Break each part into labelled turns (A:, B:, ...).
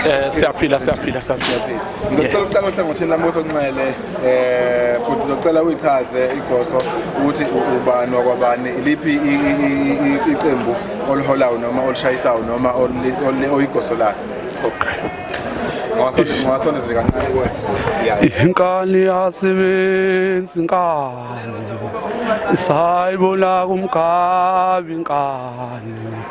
A: Eh siyaphila siyaphila siyaphila.
B: Ngizocela uqala ohlangothini lami osonxele eh futhi ngizocela uyichaze igoso ukuthi ubani wakwabani iliphi iqembu oliholayo noma olishayisayo noma oyigoso lakhe. Okay. Ngwasondezeka kancane kuwe. Inkani
A: yasebenzi inkani. Sayibona kumgabi inkani.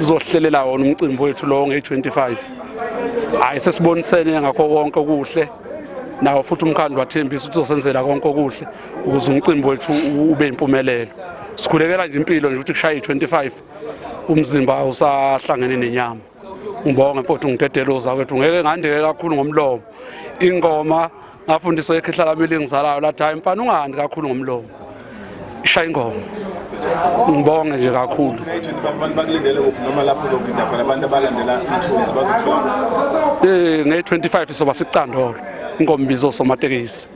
A: uzohlelela wona umcimbi wethu lowo ngeyi-25 hhayi sesibonisene ngakho konke okuhle nawo futhi umkhandlu wathembisa ukuthi uzosenzela konke okuhle ukuze umcimbi wethu ube yimpumelelo sikhulekela nje impilo nje ukuthi kushaye i-25 umzimba usahlangene nenyama Ngibonge mfowethu ngidedeluza kwethu ngeke ngandeke kakhulu ngomlomo. Ingoma ngafundiswa ekhehla lami elingizalayo lathi hayi mfana ungahandi kakhulu ngomlomo. Ishaya ingoma. Ngibonge nje kakhulu. Abantu bakulindele
B: kuphi noma lapho uzogida khona abantu abalandela ithunzi bazothola. Eh nge-25
A: soba sicandolo. Ingoma ibizo somatekisi.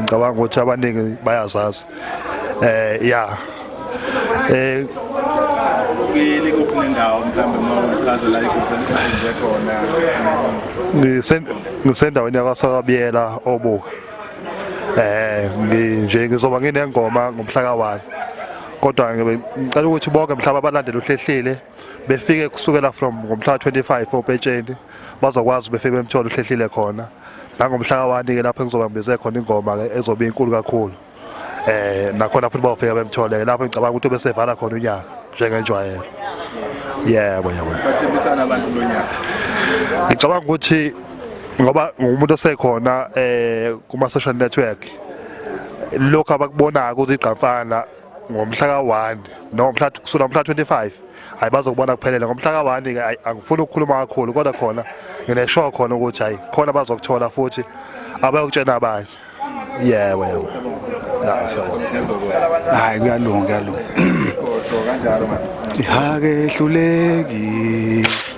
C: ngicabanga ukuthi abaningi bayazazi eh ya eh
B: ngili kuphi nendawo mhlawumbe mawuchaza la ikusenze khona ngisendaweni
C: yakwaSakabiyela obuka eh nje ngizoba nginengoma ngomhla ka-1 kodwa ngicela ukuthi bonke mhlaba abalandela uhlehlile befike kusukela from ngomhla ka-25 opetsheni bazokwazi befike bemthole uhlehlile khona nangomhla kawani-ke lapho engizobambise khona ingoma-ke ezobe inkulu kakhulu eh nakhona futhi bawufika bemthole lapho ngicabanga ukuthi besevala khona unyaka njengenjwayelo yebo yebo
B: bathembisana abantu lo nyaka ngicabanga
C: ukuthi ngoba ngumuntu osekhona eh kuma social network lokho abakubonayo ukuthi igqamfana ngomhla ka-1 no mhla kusukela ngomhla 25 hayi bazokubona kuphelele ngomhla ka-1 ke hayi angifuni ukukhuluma kakhulu kodwa khona ngineshow khona ukuthi hayi khona bazokuthola futhi abayokutshena abanye yebo yebo
D: hayi kuyalunga kuyalunga
B: ihake ehluleki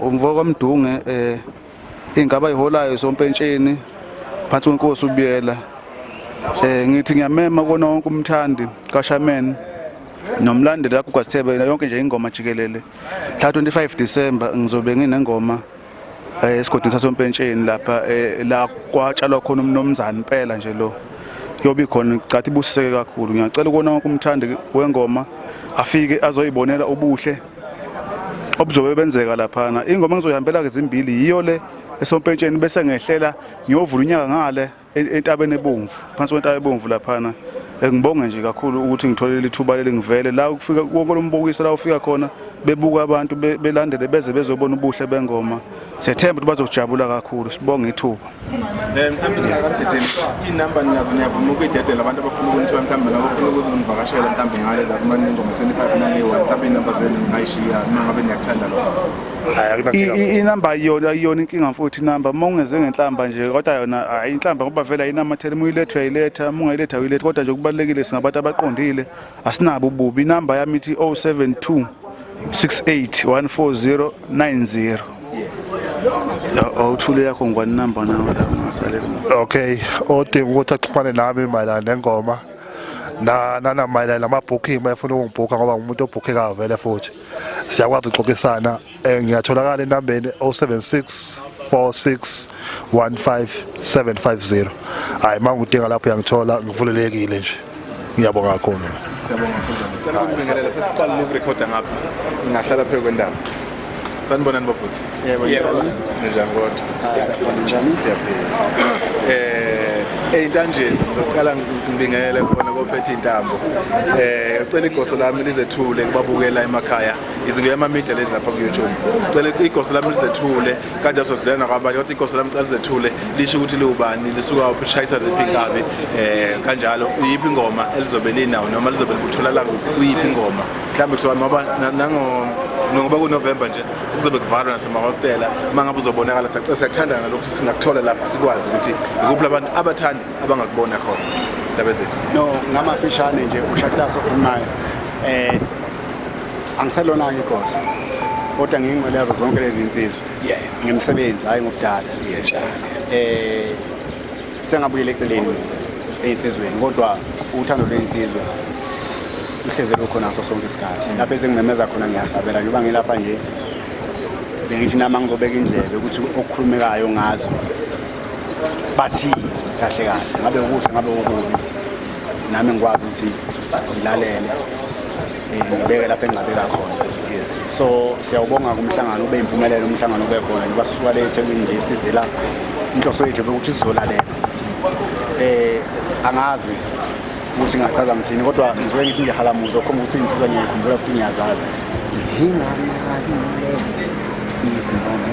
D: Umvokamdunge um eh, ingaba iholayo sompentsheni phansi kwenkosi ubiyela um ngithi ngiyamema kona wonke umthandi kashamen nomlandeli yakho kwasithebe yonke nje ingoma jikelele mhla 25 december ngizobe nginengoma um esigodini sasompentsheni lapha um la kwatshalwa khona umnomzane impela nje lo yobe khona cathi ibusiseke kakhulu ngiyacela ukona wonke umthandi wengoma afike azoyibonela ubuhle obuzobe benzeka laphana ingoma engizoyihambela ke zimbili yiyo le esompentsheni bese ngehlela ngiyovula unyaka ngale e-, entabeni ebomvu phansi kwentaba ebomvu laphana eh, ngibonge nje kakhulu ukuthi ngitholele ithuba leli ngivele la ukufika wonke lombukiso la ufika khona bebuka abantu belandele beze bezobona ubuhle bengoma sethemba ukuthi bazojabula kakhulu sibonge ithuba Eh, mhlawumbe
B: ngingakadedeli iy'namba ninazo niyavuma ukuyidedela abantu abafuna ukunithiwa mhlawumbe nabafuna ukuthi ngivakashele mhlawumbe ngale zakumane ingoma 25 naleyi-one mhlawumbe iy'namba zenu ngingayishiya uma ngabe niyakuthanda lokho
D: inamba ayiyona ayiyona inkinga futhi inamba uma ungeze ngenhlamba nje kodwa yona hayi inhlamba ngoba vele ayinamathela uma uyiletha uyayiletha uma ungayiletha uyiletha kodwa nje kubalulekile singabantu abaqondile Asinabo ububi inamba yami ithi 072 681490 awuthule yakho ngwani number nawe ungasaleli okay
C: odinga ukuthi axhumane nami mayelana nengoma na nana mayelana namabooking uma efuna ukungibhukha ngoba ngumuntu obhukhekayo vele futhi siyakwazi ukuxoxisana Eh ngiyatholakala enambeni 076 4615750. Hayi mangudinga lapho uyangithola ngivulelekile nje. Ngiyabonga kakhulu. Siyabonga kakhulu.
B: Cela ukunibingelela sesiqalile ukurekhoda ngapha. Ngahlala phezu kwendawo. Sanibonani babhuti. Yebo.
E: Ninjani
B: kodwa? Siyaphila.
E: Siyaphila. Eh
B: eyintanjeni ngizoqala ngibingelele khona kophethe intambo. Eh ngicela igoso lami lizethule kubabukela emakhaya. izinto yamamedia lezi lapha ku-youtube cela igosi lami lizethule kanje azodlulela nakwabanye kodwa igosi lami cela lizethule lisho ukuthi liwubani lisuka uphi lishayisa ziphi inkabi um kanjalo iyiphi ingoma elizobe linawo noma lizobe likutholalanga kuyiphi ingoma mhlawumbe kusuka ngoba ngoba kunovemba nje kuzobe kuvalwa nasemahostela uma ngabe uzobonakala siyakuthanda ngalokhu singakuthola lapha sikwazi ukuthi ikuphi labantu abathandi abangakubona khona ndaba zethu no ngamafishane
E: nje ushakulaso okhulumayo um angiselona-ke igosi kodwa ngiyingqwele yazo zonke lezi nsizwa yeah. ngimsebenzi hhayi ngokudala njalo um eh, sengabuyela eceleni ey'nsizweni kodwa uthando lwey'nsizwa luhleze lukhona ngaso sonke isikhathi mm. lapho ezingimemeza khona ngiyasabela njengoba ngilapha nje bengithi nami angizobeka indlebe ukuthi okukhulumekayo ngazo bathini kahle kahle ngabe ukuhle ngabe okubi nami ngikwazi ukuthi ngilalele eh, ngibeke lapho engingabeka khona so siyawubonga kumhlangano ube impumelelo umhlangano ube khona ngoba sisuka le ethekwini nje sizela inhloso yethu ukuthi sizolalela um angazi ukuthi ngingachaza ngithini kodwa ngizwe ngithi nje halamuzo khomba ukuthi insizwa ngiyayikhumbula futhi ngiyazazi nginganakile izinoma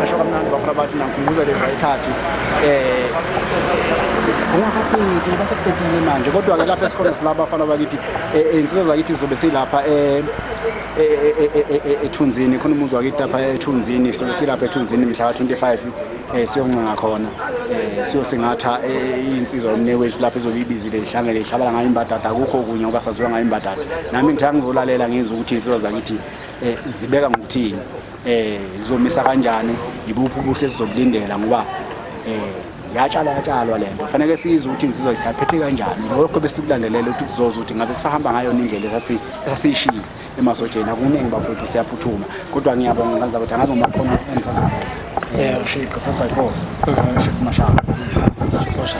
E: Nasho kamnandi bafana bathi nangikhumbuza leza ikhathi eh ungakabhedi ngoba sekubhedile manje kodwa-ke lapha esikhona sila bafana bakithi iy'nsizwa zakithi zizobe silapha ethunzini khona umuzi wakithi lapha ethunzini sizobe silapha ethunzini mhla ka-25 eh siyoncenga khona eh siyosingatha eh, insizwa yomne wethu lapho ezobe ibizile ihlangele ihlabala ngayo imbadada akukho kunye ngoba saziwa ngayo imbadada nami ngithe angizolalela ngizwe ukuthi insizwa zakithi eh zibeka ngokuthini eh zizomisa kanjani ibuphi ubuhle sizobulindela ngoba eh yatshala yatshalwa le nto faneke siyize ukuthi insizwa isaphethe kanjani lokho besikulandelela ukuthi kuzoza ukuthi ngabe kusahamba ngayo indlela esasiyishile emasotsheni akuningi bafowethu siyaphuthuma kodwa ngiyabonga ngaza ukuthi angazi uma khona engisazobona eh ushiqe 4 by 4 shifts mashaka sosha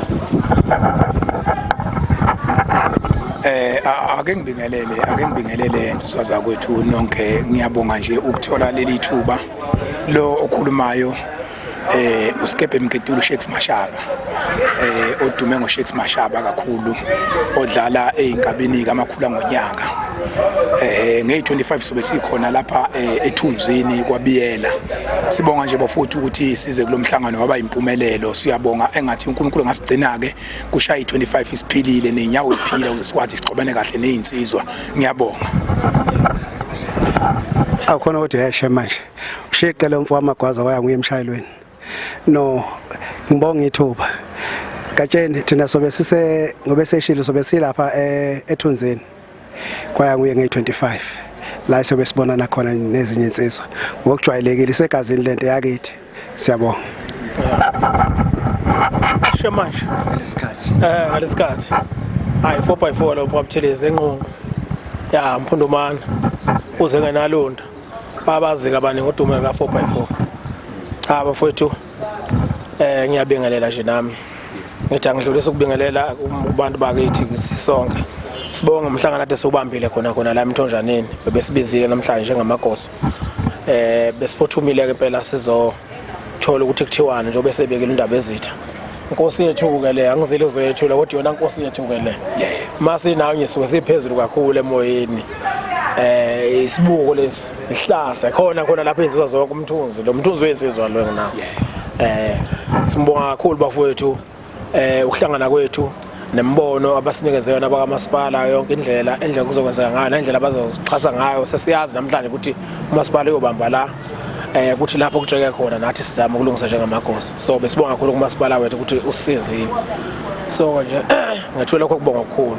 F: eh ake ngibingelele ake ngibingelele insizwa zakwethu nonke ngiyabonga nje ukuthola leli thuba lo okhulumayo eh uSkebe Mketulu Shakes Mashaba eh odume ngo Shakes Mashaba kakhulu odlala ezinkabini kamakhula ngonyaka eh ngey 25 sobe sikhona lapha eh, ethunzini kwabiyela sibonga nje bafuthu ukuthi size kulomhlangano waba impumelelo siyabonga engathi uNkulunkulu ngasigcina ke kushaya i25 isiphilile nenyawo iphila ukuze sikwazi sixobane kahle nezinsizwa ngiyabonga
E: akhona kodwa yasha manje ushiqe lo mfo wamagwaza waya nguye emshayelweni no ngibonga ithuba gatsheni thina sobe sise ngobe seshilo sobe silapha eh, ethunzini kwaya nguye nge-25 la sobe sibonana khona nezinye insizwa ngokujwayelekile isegazini lento yakithi siyabonga
G: sisho manje isikhathi eh ngalesikhathi hayi 4 by 4 lo mfo abuthelezi enqonqo ya mphundumana uze ngenalonda babazi kabani ngodumo la 4 by 4 cha bafowethu eh ngiyabingelela nje nami ngithi angidlulisa ukubingelela kubantu bakithi sisonke sibonge umhlangano ade siwubambile khona khona la emthonjaneni bebesibizile namhlanje njengamagoso eh besiphothumile ke impela sizo thola ukuthi kuthiwani njengoba esebekile indaba ezitha nkosi yethu-ke le angizile uzoyethula kodwa yona nkosi yethu-ke le uma sinawunye suke siphezulu kakhulu emoyeni eh isibuko lesi isihlahla khona khona lapho enzizwa zonke umthunzi lo mthunzi wensizwa lo nginawo eh simbonga kakhulu bafowethu eh ukuhlangana kwethu nembono abasinikeze yona abakamasipala yonke indlela endlela kuzokwenzeka ngayo nendlela abazoxhasa ngayo sesiyazi namhlanje ukuthi umasipala uyobamba la eh ukuthi lapho kujeke khona nathi sizama ukulungisa njengamakhosi so besibonga kakhulu kumasipala wethu ukuthi usisizile so nje ngethule lokho kubonga okukhulu